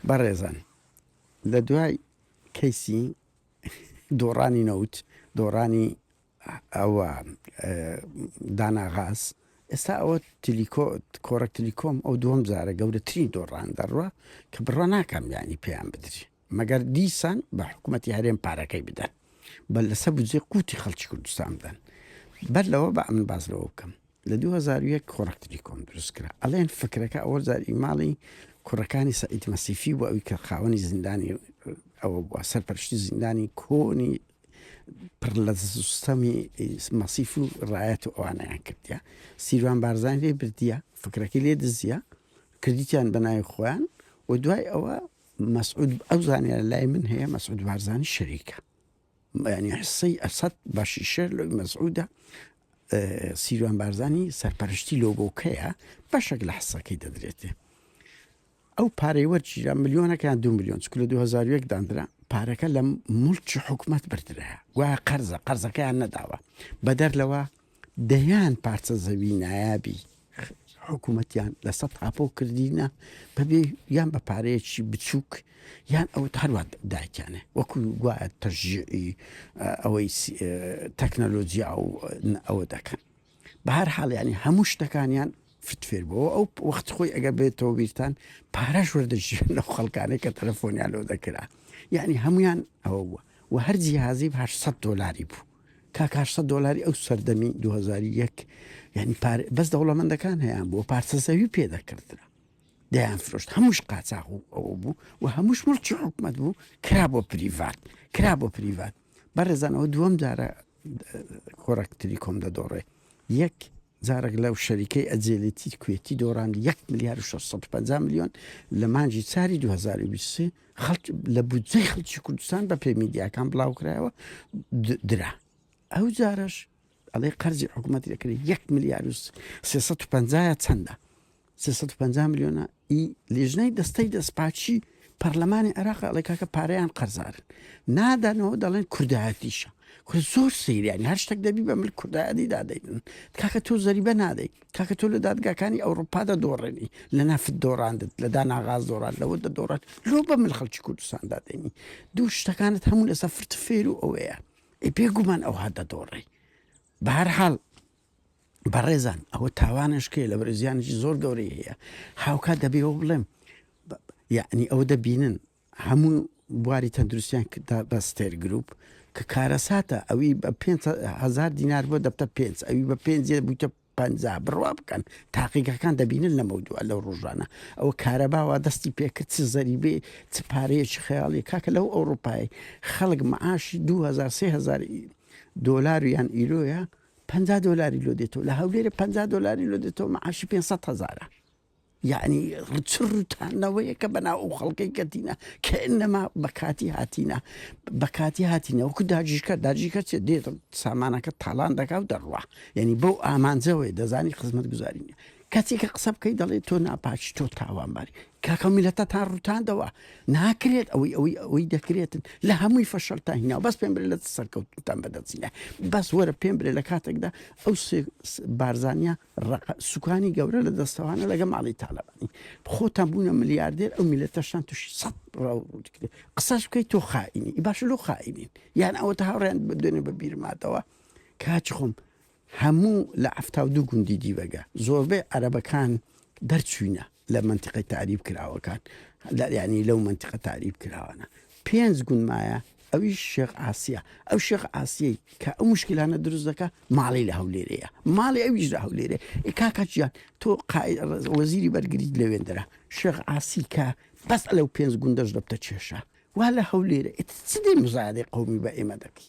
بەڕێزان لە دوای کەیسی دۆڕانی نەوت دۆڕانی ئەوە داناغاز ئێستا ئەوە تلیکۆ کۆڕەک تلیکۆم ئەو دووەم جارە گەورەترین دۆڕان دەڕوە کە بڕە ناکەم ینی پێیان بدرێت مەگەر دیسان بە حکومەتی هەرێم پارەکەی بدەن بە لەسەر بودجەی قوتی خەڵکی کوردستان بدەن بەر لەوە بە ئەمن باز لەوە بکەم لە 2001 خۆراکتری کۆم دروست کرا ئەڵێن فکرەکە ئەوە زاری ماڵی کوڕەکانی سەعید مەسیفی بۆ ئەوی کە خاوەنی زیندانی ئەوە بووە سەرپەرشتی زیندانی کۆنی پڕ لە سیستەمی مەسیف و ڕایەت و ئەوانیان کردە سیروان بارزان لێ بردیە فکرەکەی لێ دزیە کردیان بەناوی خۆیان و دوای ئەوە مەسعود ئەو زانیارە لای من هەیە مەسعود بارزانی شەریکە یعنی حسەی ئەسەد باشی شەر لەوی مەسعودە سیروان بارزانی سەرپەرشتی لۆگۆکەیە بەشێک لە حسەکەی دەدرێتێ ئەو پارەی وەرگیرا ملیۆنەکان دو میلیۆن چکل لە 2001 دادرا پارەکە لە ملکی حکوومەت بردرە گوایە قەرزە قەرزەکەیان نەداوە بەدەر لەوە دەیان پارچە زەوی نایابی حکوومەتیان لەسە تاپۆ کردینە بەبێ یان بە پارەیەکی بچووک یان ئەو هەروە دایکیانە وەکو گوایە تەژیعی ئەوەی تەکنەلۆجییا و ئەوە دەکەن بە هەر حاڵیانی هەموو شتەکانیان فتفێر بەوە ئەو وەخت خۆی ئەگەر بێتەوە بیرتان پارەش وەردەژی لە خەڵکانێک کە تەلەفۆنیان لۆ دەکرا یعنی هەمویان ئەوە بووە و هەر جیهازی 800 دلاری بوو کاک ئارسە دۆلاری ئەو سەردەمی دوو هەزار و یەک یانی پار بەس دەوڵەمەندەکان هەیان بۆ پارچە زەوی پێ دەکردرا دەیان فرۆشت هەمووش قاچاغ و ئەوە بوو و هەمووش مڵکی حکومت بوو کرا بۆ پریڤات کرا بۆ پریڤات بەڕێزانەوە دووەم جارە خۆراکتری کۆم دەدۆڕێ یەک جارەک لەو شەریکەی ئەجێلیتی کوێتی دۆڕاندی یەک ملیار و شەش سەد و پەنجا ملیۆن لە مانگی چاری دوو هەزار و بیست و سێ خەڵک لە بودجەی خەڵکی کوردستان بە پێی میدیاکان بڵاوکرایەوە د- درا ئەو جارەش ئەڵێ قەرزی حکوومەت لەکرێت یەک ملیار و سێ سەد و پەنجایە چەندە سێ سەد و پەنجا ملیۆنە ی لیژنەی دەستەی دەستپاکی پەرلەمانی عێراق ئەڵێ کاکە پارەیان قەرزارن نادانەوە دەڵێن کوردایەتیشە کورە زۆر سەیریانی هەر شتێک دەبی بە مل کوردایەتی دادەیتن کاکە تۆ زەریبە نادەیت کاکە تۆ لە دادگاکانی ئەوروپا دەدۆڕێنی لە نافت دۆڕاندت لە داناغاز دۆڕان لەوە دەدۆڕات لۆ بە مل خەڵکی کوردستان دادێنی دوو شتەکانت هەموو لەسە فرت فێر و ئەوەیە ئەی پێگومان ئەوها دەدۆڕێ بەهرحاڵ بەڕێزان ئەوە تاوانش کێ لە بەرزیانێکی زۆر گەورەی هەیە هاوکات دەبێ ئەو بڵێم یعنی ئەوە دەبینن هەموو بواری تەندروستیان کردا بە ستێر گروپ کە کارەساتە ئەوی بە 5هزار دینار بۆ دەبتە پێ ئەوی بە پێ بووتە پ بڕوا بکەن تاقیگەکان دەبینن لەمە دووە لەو ڕژانە ئەو کارە باوە دەستی پێکرد چ زەریبێ چ پارەیەکی خەیاڵی کاکە لەو ئەوروپای خەڵک معاشی 2000 دلار یان ئیرۆیە پەنجا دۆلاری لۆ دێتەوە لە هەولێرە پەنجا دۆلاری لۆ دێتەوە معاشی پێنج سەد هەزارە یعنی ڕچ ڕوتانەوەیە کە بەناو ئەو خەڵکەی کەتینە کە نەما بەکاتی هاتینە بەکاتی هاتینە وەکو داجیشکە داجیکە چێ دێت سامانەکە تاالان دەکا و دەڕوا یعنی بەو ئامانجەوەی دەزانی خزمەت گوزارینە کەچی کە قسە بکەی دەڵێ تۆ ناپاکی تۆ تاوانباری کاکە ئەو میلەتەتان ڕوتاندەوە ناکرێت ئەوەی ئەوەی ئەوەی دەکرێتن لە هەمووی فەشەلتان هینا بەس پێم برێ لە سەرکەوتتان بەدەستینە بەس وەرە پێم برێ لە کاتێکدا ئەو سێ- س- بارزانیا ڕق سوکانی گەورە لە دەستەوانە لەگە ماڵی تالەبانی خۆتان بوونە ملیاردێر ئەو میلەتەشتان توش سەد ڕاو ڕوتکرێ قسەش بکەیت تۆ خائینی باش لۆ خائینین یان ئەوە تا هاوڕێن بدوێنێ بە بیرماتەوە کاچ خۆم هەموو لە حەفتا و دوو گوندی دیبەگە زۆربەی عەرەبەکان دەرچووینە لە مەنتیقەی تەعریب کراوەکان لە یانی لەو مەنتیقە تەعریب کراوانە پێنج گوند مایە ئەویش شێخ عاسیە ئەو شێخ عاسیەی کە ئەو مشکلانە دروست دەکە ماڵی لە هەولێرەیە ماڵی ئەویش لە هەولێرێ ئێ کاکە جیان تۆ قای- ڕز- وەزیری بەرگریت لەوێندرا شێخ عاسی کە بەس لەو پێنج گوندەش دەبتە کێشە وا لە هەولێرە ئیتر چ دێ مزایەدەی قەومی بە ئێمە دەکەی